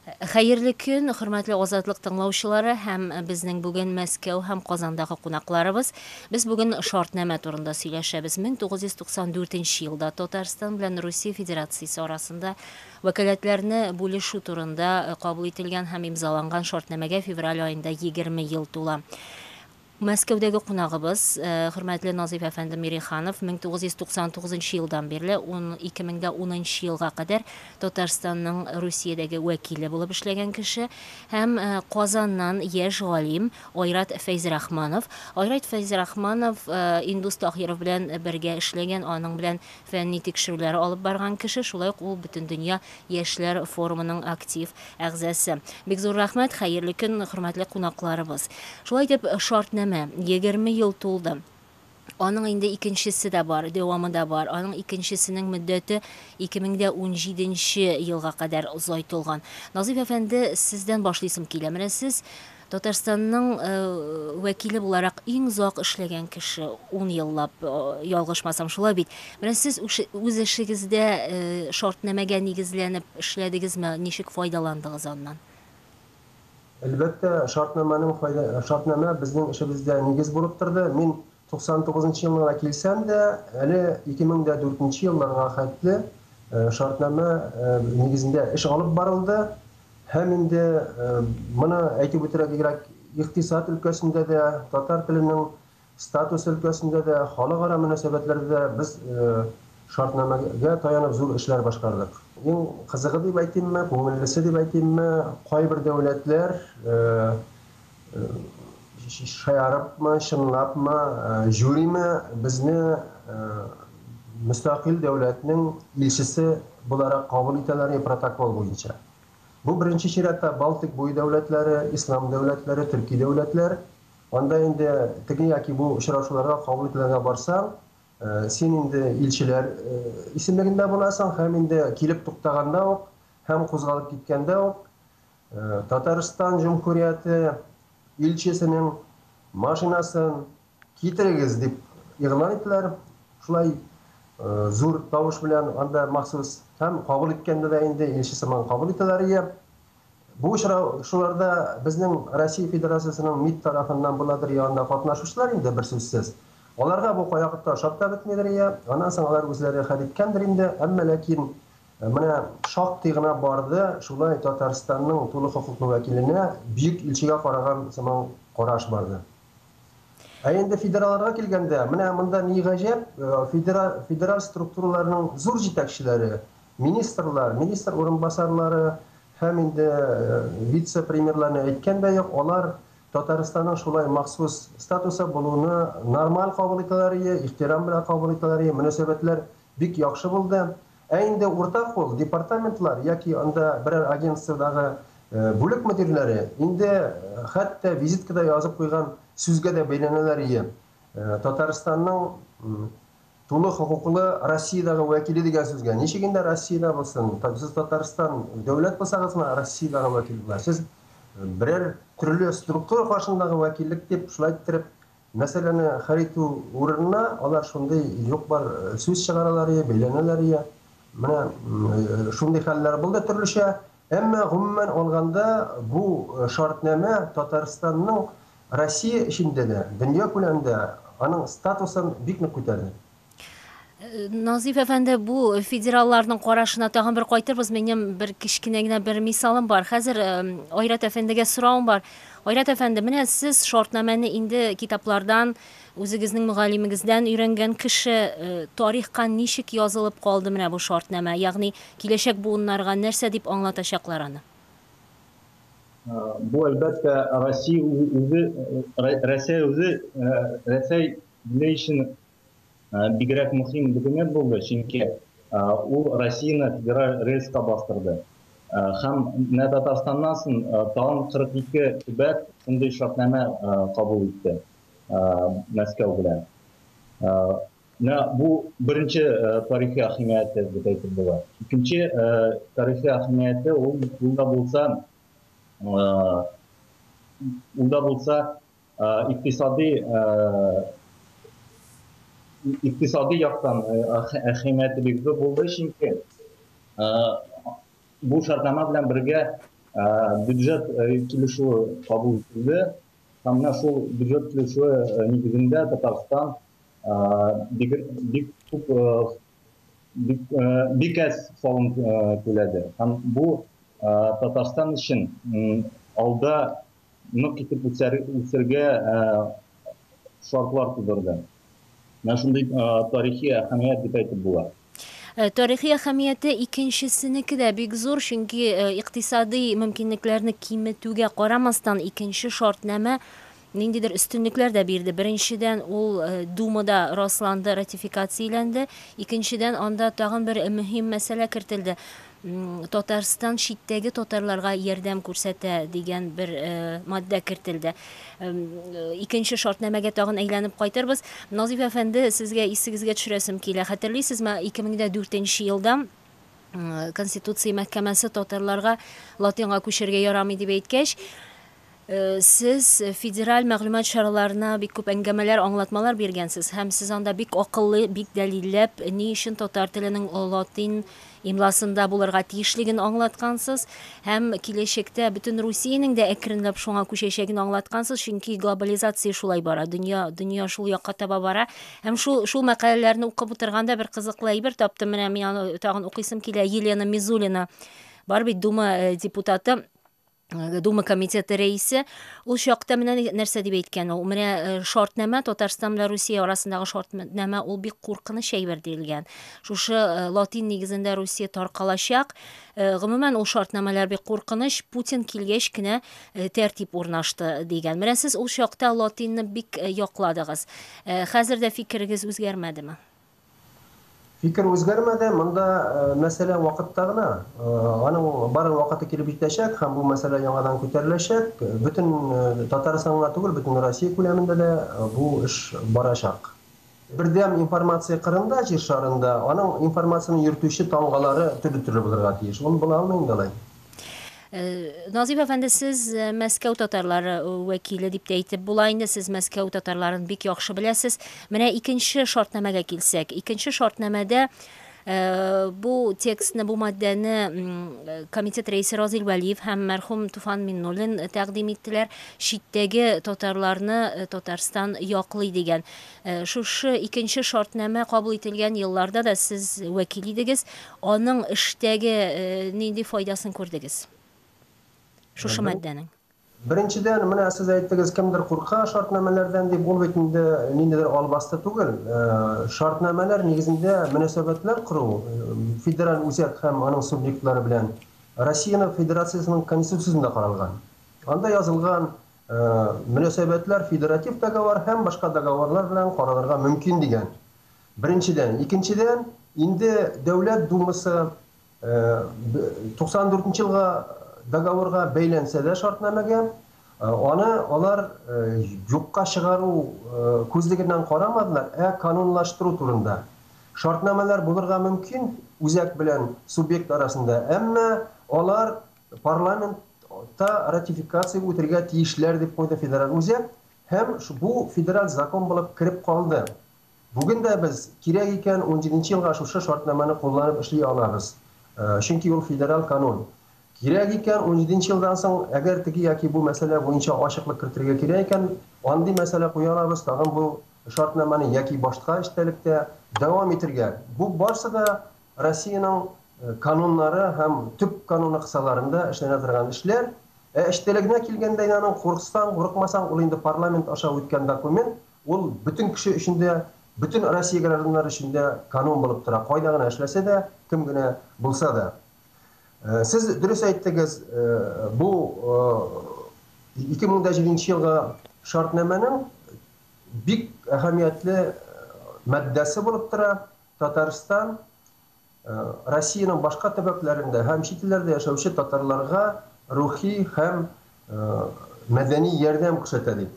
Хәерле көн, хөрмәтле Азатлык тыңлаучылары һәм безнең бүген Мәскәү һәм Казандагы кунакларыбыз. Без бүген шартнамә турында сөйләшәбез. 1994 нче елда Татарстан белән Русия Федерациясе арасында вәкаләтләрне бүлешү турында кабул ителгән һәм имзаланган шартнамәгә февраль аенда 20 ел тула. Мәскәүдәге кунагыбыз, хөрмәтле Назыйф әфәнде Мирихан-ов, 1999 нчы елдан бирле ун, 2010 нчы елга кадәр Татарстанның Русиядәге вәкиле булып эшләгән кеше һәм Казаннан яшь галим Айрат Фәйзрахманов. Айрат Фәйзрахманов Индус Таһиров белән бергә эшләгән, аның белән Фәнни тикшерүләр алып барган кеше, шулай ук ул Бөтендөнья яшьләр форумының актив әгъзасы. Бик зур рәхмәт, хәерле көн, хөрмәтле кунакларыбыз. Шулай итеп, Шартнамә, егерме ел тулды. Аның инде икенчесе дә бар, дәвамы да бар. Аның икенчесенең мөддәте 2017 нче елга кадәр озайтылган. Назыйф әфәнде, сездән башлыйсым килә. Менә сез Татарстанның вәкиле буларак иң озак эшләгән кеше, ун еллап, ялгышмасам, шулай бит? Менә сез үз эшегездә шартнамәгә нигезләнеп эшләдегезме, ничек файдаландыгыз аннан? Әлбәттә, шартнамәнең файда, шартнамә безнең эшебездә нигез булып торды. Мин 99 нчы елларга килсәм дә, әле 2004 нче елларга хәтле шартнамә нигезендә эш алып барылды һәм инде моны әйтеп үтәргә бигрәк икътисад өлкәсендә дә, татар теленең статусы өлкәсендә дә, халыкара мөнәсәбәтләрдә дә без шартнамәгә таянып зур эшләр башкардык. Иң кызыгы дип әйтимме, күңеллесе дип әйтимме, кайбер дәүләтләр Шаярыпмы, чынлапмы, жюриме безне мөстәкыйль дәүләтнең илчесе буларак кабул итәләрме протокол буенча? Бу беренче чиратта Балтик буе дәүләтләре, ислам дәүләтләре, төрки дәүләтләр. Анда инде теге яки бу очрашуларга кабул ителергә барсаң, син инде илчеләр исемлегендә буласың һәм инде килеп туктаганда ук һәм кузгалып киткәндә үк Татарстан Җөмһүрияте илчесенең машинасын китерегез дип игълан иттеләр. Шулай зур тавыш белән анда махсус һәм кабул иткәндә дә инде илче сыман кабул итәләр иде. Бу очрашуларда безнең Россия Федерациясенең МИД тарафыннан буладыр я анда катнашучылар инде берсүзсез. Аларга бу кайвакытта ошап та бетмидер я аннан соң алар үзләре хәл иткәндер инде, әмма ләкин Менә шактый гына барды, шулай Татарстанның тулы хокуклы вәкиленә бөек илчегә караган сыман караш барды. Ә инде федераларга килгәндә, менә монда ни гаҗәп, федераль, федераль структураларның зур җитәкчеләре, министрлар, министр урынбасарлары һәм инде вице-премьерларны әйткән дә юк, алар Татарстанның шулай махсус статусы булуны нормаль кабул итәләр, ихтирам белән кабул итәләр, мөнәсәбәтләр бик яхшы булды. Ә инде урта кул департаментлар яки анда берәр агентстводагы бүлек мөдирләре инде хәтта визиткада язып куйган сүзгә дә бәйләнәләр ие. Татарстанның тулы хокуклы Россиядагы вәкиле дигән сүзгә. Ничек инде Россиядә булсын? Сез Татарстан дәүләт булсагыз гына Россиядагы вәкил була. Сез берәр төрле структура каршындагы вәкиллек дип шулай иттереп Мәсьәләне хәл итү урынына, алар шундый юк-бар сүз чыгаралар ие, бәйләнәләр ие. Менә шундый хәлләр булды төрлечә. Әмма, гомумән алганда, бу шартнамә Татарстанның Россия эчендә дә, дөнья күләмендә аның статусын бик нык күтәрде. Назиф әфәнде, бу федералларның карашына тагын бер кайтырбыз. Минем бер кечкенә генә бер мисалым бар. Хәзер Айрат әфәндегә сорауым бар. Айрат әфәнде, менә сез шартнамәне инде китаплардан, үзегезнең мөгаллимегездән өйрәнгән кеше, тарихка ничек язылып калды менә бу шартнамә? Ягъни киләчәк буыннарга нәрсә дип аңлатачаклар аны? Бу әлбәттә Россия үзе, Рәсәй үзе, Рәсәй ни өчен Бигрәк мөһим документ булды, чөнки ул Россияне федераль рельска бастырды. Һәм менә Татарстаннан сон тагын 42 төбәк шундый шартнамә кабул итте Мәскәү белән. Менә бу беренче тарихи әһәмияте дип әйтеп була. Икенче тарихи әһәмияте ул да булса, ул да булса Икътисади икътисади яктан әһәмияте бик зур булды, чөнки бу шартнама белән бергә бюджет килешүе кабул ителде. Һәм менә шул бюджет килешүе нигезендә Татарстан бик бик күп бик бик әз салым түләде. Һәм бу Татарстан өчен алда нык итеп үсәргә шартлар тудырды. Менә шундый тарихи әһәмият дип әйтеп була. Тарихи әһәмияте икенчесенеке дә бик зур, чөнки икътисадый мөмкинлекләрне киметүгә карамастан, икенче шартнамә ниндидер өстенлекләр дә бирде. Беренчедән, ул Думада расланды, ратификацияләнде. Икенчедән, анда тагын бер мөһим мәсьәлә кертелде. Татарстан читтәге татарларга ярдәм күрсәтә, дигән бер маддә кертелде. Икенче шартнамәгә тагын әйләнеп кайтырбыз. Назыйф әфәнде, сезгә исегезгә төшерәсем килә. Хәтерлисезме, 2004 нче елда Конституция мәхкәмәсе татарларга Латинга күчәргә ярамый дип әйткәч, Сез федераль мәгълүмат чараларына бик күп әңгәмәләр, аңлатмалар биргәнсез һәм сез анда бик акыллы, бик дәлилләп, ни өчен татар теленең латин имласында булырга тиешлеген аңлаткансыз һәм киләчәктә бөтен Русиянең дә әкренләп шуңа күчәчәген аңлаткансыз, чөнки глобализация шулай бара, дөнья, дөнья шул якка таба бара. Һәм шул, шул мәкаләләрне укып утырганда бер кызыклы әйбер таптым, менә мин аны тагын укыйсым килә, Елена Мизулина, бар бит Дума э, депутаты, Э, Дума комитеты рәисе ул чакта менә нәрсә дип әйткән ул менә э, шартнамә Татарстан белән Русия арасындагы шартнамә ул бик куркыныч әйбер диелгән шушы э, латин нигезендә Русия таркалачак гомумән ул шартнамәләр бик куркыныч Путин килгәч кенә тәртип урнашты дигән менә сез ул чакта латинны бик якладыгыз хәзер дә фикерегез үзгәрмәдеме Фикер үзгәрмәде, монда мәсьәлә вакытта гына. Аның бары вакыты килеп җитәчәк һәм бу мәсьәлә яңадан күтәреләчәк. Бөтен Татарстан гына түгел, бөтен Россия күләмендә дә бу эш барачак. Бердәм информация кырында, җир шарында, аның информацияне йөртүче тамгалары төрле-төрле булырга тиеш. Ул була алмый инде алай. Э, Назив әфәнде, сез э, Мәскәү татарлары э, вәкиле дип тә әйтеп була инде, сез Мәскәү татарларын бик яхшы беләсез. Менә икенче шартнамәгә килсәк, икенче шартнамәдә бу текстны, бу маддәне комитет рәисе Разил Вәлиев һәм мәрхүм Туфан Миннуллин тәкъдим иттеләр. Читтәге татарларны Татарстан яклый дигән. Шушы икенче шартнамә кабул ителгән елларда да сез вәкил идегез. Аның эштәге нинди файдасын күрдегез? Шушы маддәнең. Беренчедән, менә сез әйттегез, кемдер курка шартнамәләрдән дип, ул бит инде ниндидер албасты түгел. Шартнамәләр нигезендә мөнәсәбәтләр кору федераль үзәк һәм аның субъектлары белән Россиянең Федерациясенең Конституциясендә каралган. Анда язылган, Мөнәсәбәтләр федератив договор һәм башка договорлар белән каралырга мөмкин дигән, беренчедән. Икенчедән, инде Дәүләт Думасы 94 нче елга договорга бәйләнсә дә шартнамәгә, аны алар юкка чыгару күзлегеннән карамадылар, ә канунлаштыру турында. Шартнамәләр булырга мөмкин үзәк белән субъект арасында, әмма алар Парламентта ратификация үтергә тиешләр, дип куйды федераль үзәк һәм бу федераль закон булып кереп калды. Бүген дә без, кирәк икән, унҗиденче елга шушы шартнамәне кулланып эшли алабыз, чөнки ул федераль канун. Кирәк икән, унҗиденче елдан соң, әгәр теге яки бу мәсьәлә буенча ачыклык кертергә кирәк икән, андый мәсьәлә куя алабыз, тагын бу шартнамәне яки башка эчтәлектә дәвам итергә. Бу барсы да Россиянең кануннары һәм төп кануны кысаларында эшләнә торган эшләр. Ә эчтәлегенә килгәндә инде аның курыксаң, курыкмасаң, ул инде парламент аша үткән документ, ул бөтен кеше өчен дә, бөтен Россия гражданнары өчен дә канун булып тора, кайда гына эшләсә дә, кем генә булса да. Сез дөрес әйттегез, бу 2007 нче елгы шартнамәнең бик әһәмиятле матдәсе булып тора. Татарстан Россиянең башка төбәкләрендә һәм чит илләрдә яшәүче татарларга рухи һәм мәдәни ярдәм күрсәтә, дип.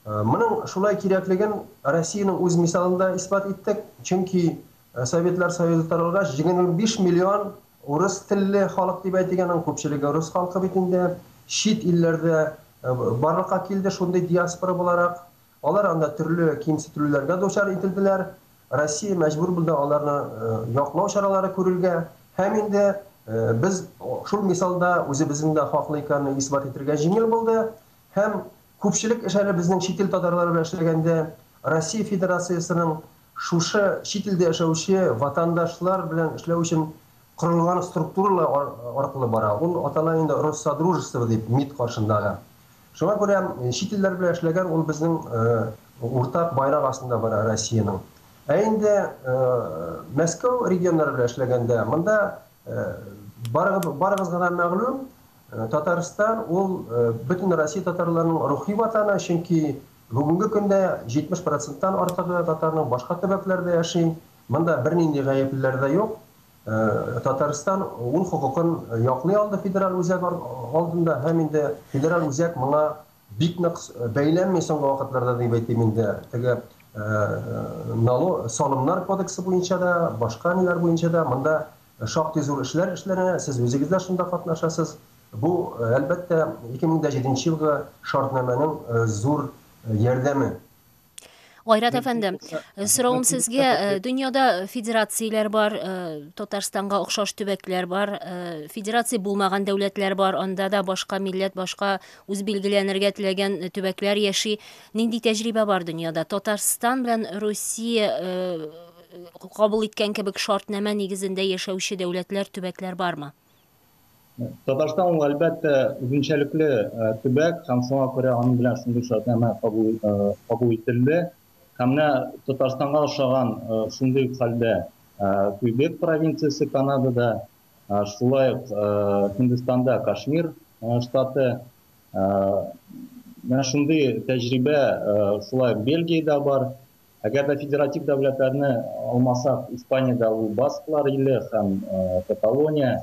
Моның шулай кирәклеген Россиянең үз мисалында исбат иттек, чөнки Советлар Союзы таралгач, 25 миллион урыс телле халык дип әйтик, аның күпчелеге рус халкы бит инде, чит илләрдә барлыкка килде шундый диаспора буларак. Алар анда төрле кимсетелүләргә дучар ителделәр, Россия мәҗбүр булды аларны яклау чаралары күрергә. Һәм инде без шул мисалда үзебезнең дә хаклы икәнне исбат итергә җиңел булды. Һәм күпчелек эш әле безнең чит ил татарлары белән эшләгәндә Россия Федерациясенең шушы чит илдә яшәүче ватандашлар белән эшләү өчен Корылган структуралар аркылы бара. Ул атала инде Россодружество дип, МИД каршындагы. Шуңа күрә чит илләр белән эшләгән ул безнең уртак байрак астында бара Россиянең. Ә инде Мәскәү регионнары белән эшләгәндә, монда барыгызга да мәгълүм, Татарстан ул бөтен Россия татарларының рухи ватаны, чөнки бүгенге көндә 70 проценттан артыгы татарның башка төбәкләрдә яши. Монда бернинди гаеплеләр дә юк. Татарстан ул хокукын яклый алды федераль үзәк алдында һәм инде федераль үзәк моңа бик нык бәйләнми соңгы вакытларда дип әйтим инде. Теге нало, салымнар кодексы буенча да, башка ниләр буенча да монда шактый зур эшләр эшләнә, сез үзегез дә шунда катнашасыз. Бу, әлбәттә, 2007 нче елгы шартнамәнең зур ярдәме. Гайрат әфәнде, э, сорауым сезгә, э, дөньяда федерацияләр бар, э, Татарстанга охшаш төбәкләр бар, федерация булмаган дәүләтләр бар, анда да башка милләт, башка үз билгеләнергә теләгән төбәкләр яши. Нинди тәҗрибә бар дөньяда? Татарстан белән Русия кабул иткән кебек шартнамә нигезендә яшәүче дәүләтләр, төбәкләр бармы? Татарстан ул әлбәттә үзенчәлекле төбәк һәм шуңа күрә аның белән шундый шартнамә кабул ителде. Һәм менә Татарстанга ошаган шундый ук хәлдә Квебек провинциясе Канадада, шулай ук Һиндстанда Кашмир штаты, менә шундый тәҗрибә шулай ук Бельгиядә бар. Әгәр дә федератив дәүләтләрне алмасак, Испаниядә ул Басклар иле һәм Каталония,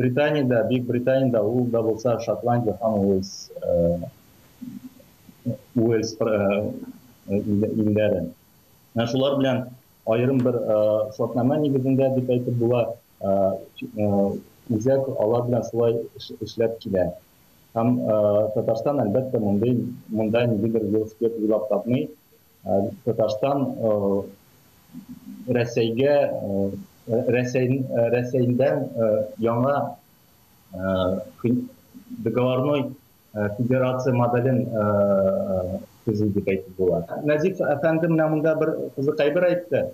Британиядә, Бөек Британиядә ул да булса Шотландия һәм Уэльс Уэльс илләре. Менә шулар белән аерым бер шартнамә нигезендә дип әйтеп була, үзәк алар белән шулай эшләп килә. Һәм Татарстан, әлбәттә, мондый, монда ниндидер велосипед уйлап тапмый. Татарстан Рәсәйгә, Рәсәй, Рәсәйдән яңа договорной федерация моделен төзи дип әйтеп була. Назиф әфәнде менә монда бер кызык әйбер әйтте.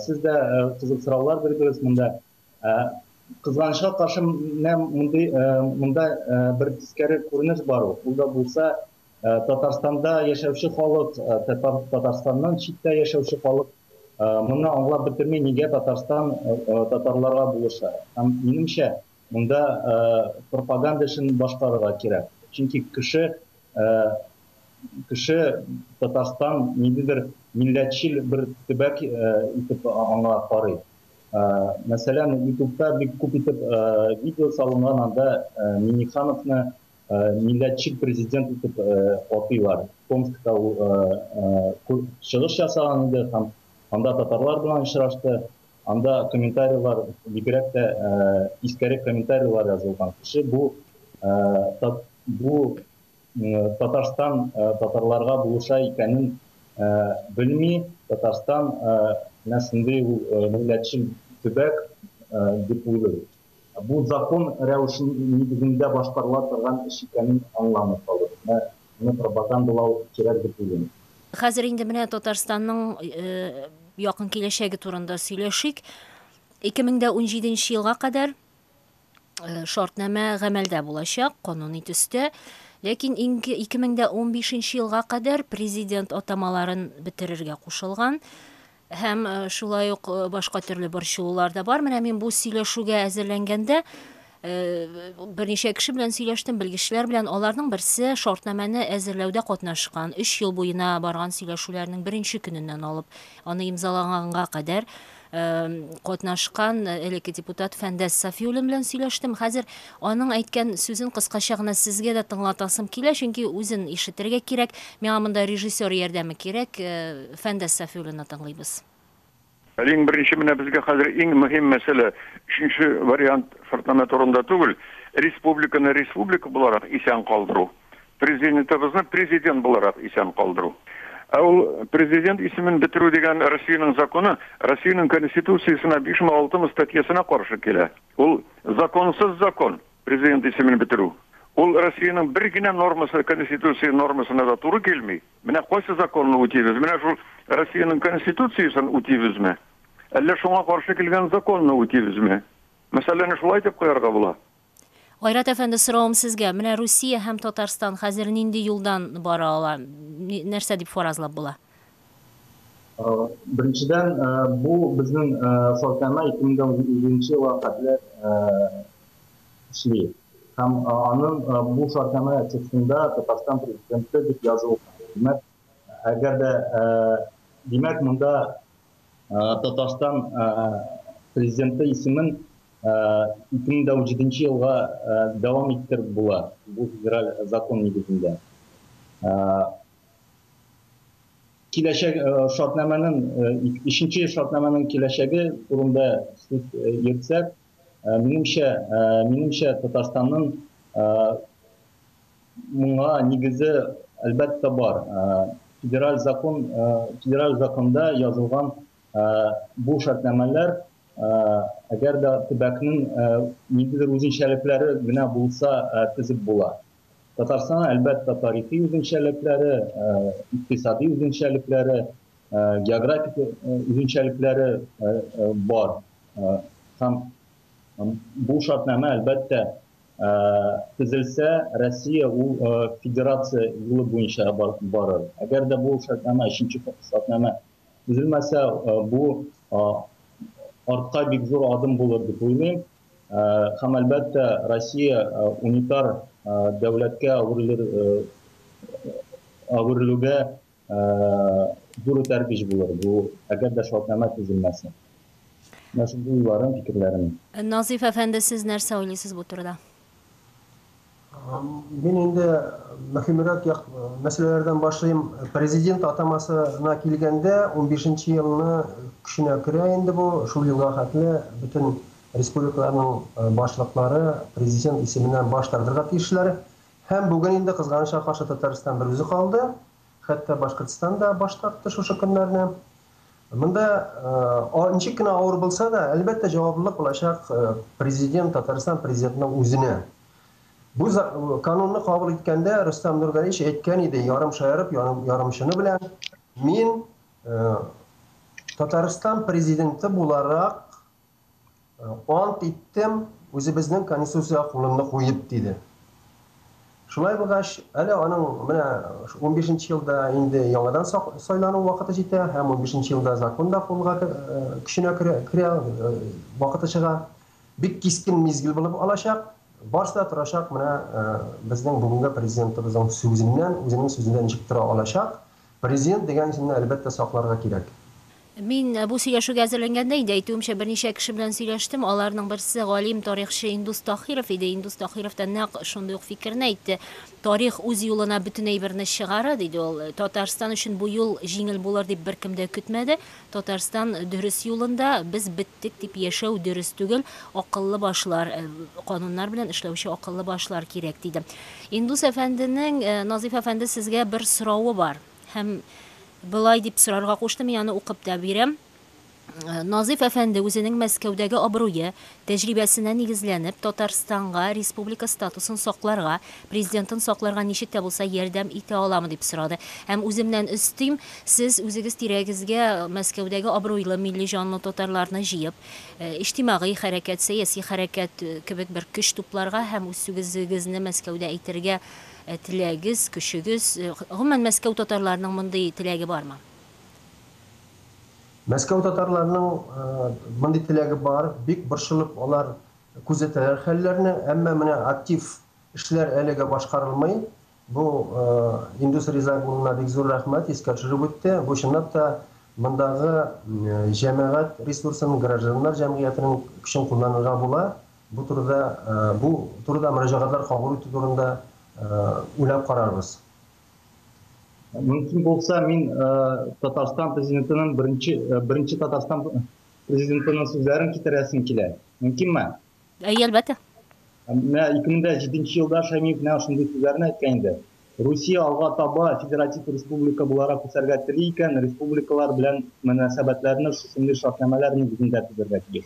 Сез дә кызык сораулар бирдегез монда. Ә, кызганычка каршы, менә мондый, ә, монда ә, бер тискәре күренеш бар ул. Ул да булса, ә, Татарстанда яшәүче халык, ә, Татар, Татарстаннан читтә яшәүче халык, ә, моны аңлап бетерми, нигә Татарстан ә, татарларга булыша. Һәм, минемчә, монда, ә, пропаганда эшен башкарырга кирәк. Чөнки кеше, ә, кеше Татарстан ниндидер милләтчел бер төбәк, ә, итеп аңа карый. Мәсәлән, ютубта бик күп итеп видео салынган, анда Миннихановны милләтчел президент итеп атыйлар. Томскта ул чыгыш ясаган иде һәм анда татарлар белән очрашты. Анда комментарийлар, бигрәк тә тискәре комментарийлар язылган. Кеше бу Татарстан татарларга булыша икәнен белми, Татарстан менә шундый ул милләтчел төбәк дип уйлый. Бу закон рәвеше нигезендә башкарыла торган эш икәнен аңламый калып, менә моны пропагандалау кирәк дип уйлыйм. Хәзер инде менә Татарстанның якын киләчәге турында сөйләшик. 2017 нче елга кадәр Э, шартнамә гамәлдә булачак, кануни төстә. Ләкин инде 2015 елга кадәр президент атамаларын бетерергә кушылган һәм э, шулай ук э, башка төрле борчылулар да бар. Менә мин бу сөйләшүгә әзерләнгәндә берничә кеше белән сөйләштем, белгечләр белән. Аларның берсе шартнамәне әзерләүдә катнашкан, 3 ел буена барган сөйләшүләрнең беренче көненнән алып, аны имзалаганга кадәр катнашкан элекке депутат Фәндәс Сафиуллин белән сөйләштем. Хәзер аның әйткән сүзен кыскача гына сезгә дә тыңлатасым килә, чөнки үзен ишетергә кирәк. Миңа монда режиссер ярдәме кирәк. Фәндәс Сафиуллинны тыңлыйбыз. Әле иң беренче менә безгә хәзер иң мөһим мәсьәлә, өченче вариант шартлама турында түгел, республиканы республика буларак исән калдыру. Президентыбызны президент буларак исән калдыру. Ә ул президент исемен бетерү дигән Россиянең законы Россиянең Конституциясенә бишме, алтымы статьясына каршы килә. Ул законсыз закон, президент исемен бетерү. Ул Россиянең бер генә нормасы, Конституция нормасына да туры килми. Менә кайсы законны үтибез? Менә шул Россиянең Конституциясен үтибезме? Әллә шуңа каршы килгән законны үтибезме? Мәсьәләне шулай итеп куярга була. Айрат әфәнде, соравым сезгә, менә Русия һәм Татарстан хәзер нинди юлдан бара ала, нәрсә дип фаразлап була? Беренчедән, бу безнең сортама 2017 елга хәтле эшли. Һәм аның бу сортама текстында Татарстан Президенты дип язылган. Димәк, әгәр дә, димәк, монда Татарстан Президенты исемен 2017 елга дәвам иттереп була, бу федераль закон нигезендә. Киләчәк шартнамәнең, өченче шартнамәнең киләчәге турында сүз йөртсәк, минемчә, Татарстанның Моңа нигезе, әлбәттә, бар. Федераль закон, федераль законда язылган бу шартнамәләр, әгәр дә төбәкнең ниндидер үзенчәлекләре генә булса, тезеп була. Татарстанның, әлбәттә, тарихи үзенчәлекләре, икътисади үзенчәлекләре, географик үзенчәлекләре бар. Һәм бу шартнамә, әлбәттә, төзелсә, Россия ул федерация юлы буенча барыр. Әгәр дә бу шартнамә, өченче шартнамә төзелмәсә, бу артка бик зур адым булыр дип уйлыйм. Һәм, әлбәттә, Россия унитар дәүләткә әверелергә зур этәргеч булыр бу, әгәр дә шартнамә төзелмәсә. Менә шундый уйларым, фикерләрем. Назыйф әфәнде, сез нәрсә уйлыйсыз бу турыда? Мин инде мөһимрәк як мәсьәләләрдән башлыйм. Президент атамасына килгәндә, унбишенче елны көченә керә инде бу. Шул елга хәтле бөтен республикаларның башлыклары президент исеменнән баш тартырга тиешләр. Һәм бүген инде кызганычка каршы Татарстан бер үзе калды, хәтта Башкортстан да баш тартты шушы көннәрне. Монда ничек кенә авыр булса да, әлбәттә җаваплылык булачак президент, Татарстан президентының үзенә. Бу канунны кабул иткәндә Рөстәм Нургалиевич әйткән иде, ярым шаярып, ярым чыны белән, мин Татарстан президенты буларак Ант иттем, үзебезнең конституциягә кулымны куеп, диде. Шулай булгач, әле аның менә унбишенче елда инде яңадан сайлану вакыты җитә һәм унбишенче елда закон да кулга көченә керә, вакыты чыга. Бик кискен мизгел булып алачак. Барысы да торачак менә безнең бүгенге президентыбызның сүзеннән, үзенең сүзендә ничек тора алачак. Президент дигән исемне әлбәттә сакларга кирәк. Мин бу сөйләшүгә әзерләнгәндә инде, әйтүемчә, берничә кеше белән сөйләштем. Аларның берсе, галим, тарихчы Индус Таһиров иде. Индус Таһиров та нәкъ шундый ук фикерне әйтте. Тарих үз юлына бөтен әйберне чыгара, диде ул. Татарстан өчен бу юл җиңел булыр дип беркем дә көтмәде. Татарстан дөрес юлында, без беттек дип яшәү дөрес түгел, акыллы башлар, кануннар белән эшләүче акыллы башлар кирәк, диде. Индус әфәнденең, Назыйф әфәнде, сезгә бер соравы бар. Һәм болай дип сорарга кушты, мин аны укып та бирәм. Назыйф әфәнде үзенең Мәскәүдәге абруе, Тәҗрибәсенә нигезләнеп, Татарстанга республика статусын сакларга, президентын сакларга ничек тә булса ярдәм итә аламы, дип сорады. Һәм үземнән өстим, сез үзегез тирәгезгә Мәскәүдәге абруйлы, милли җанлы татарларны җыеп, иҗтимагый хәрәкәт, сәяси хәрәкәт кебек бер көч тупларга һәм үзсүгезегезне Мәскәүдә әйтергә теләгез, көчегез, гомумән, Мәскәү татарларының мондый теләге бармы? Мәскәү татарларының мондый теләге бар, бик борчылып алар күзәтәләр хәлләрне, әмма менә актив эшләр әлегә башкарылмый. Бу Индус Ризаев улына бик зур рәхмәт, искә төшереп үтте. Бу чынлап та мондагы җәмәгать ресурсын, гражданнар җәмгыятенең көчен кулланырга була. Бу турыда бу турыда мөрәҗәгатьләр кабул итү турында уйлап карарбыз. Мөмкин булса, мин Татарстан президентының беренче беренче Татарстан президентының сүзләрен китерәсем килә. Мөмкинме? Әйе, әлбәттә. Менә 2007 елда Шәймиев менә шундый сүзләрне әйткән инде. Русия алга таба федератив республика буларак үсәргә тели икән, республикалар белән мөнәсәбәтләрне шушындый шартнамәләр нигезендә төзергә тиеш.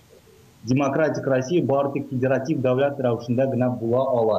Демократик Россия бары тик федератив дәүләт рәвешендә генә була ала.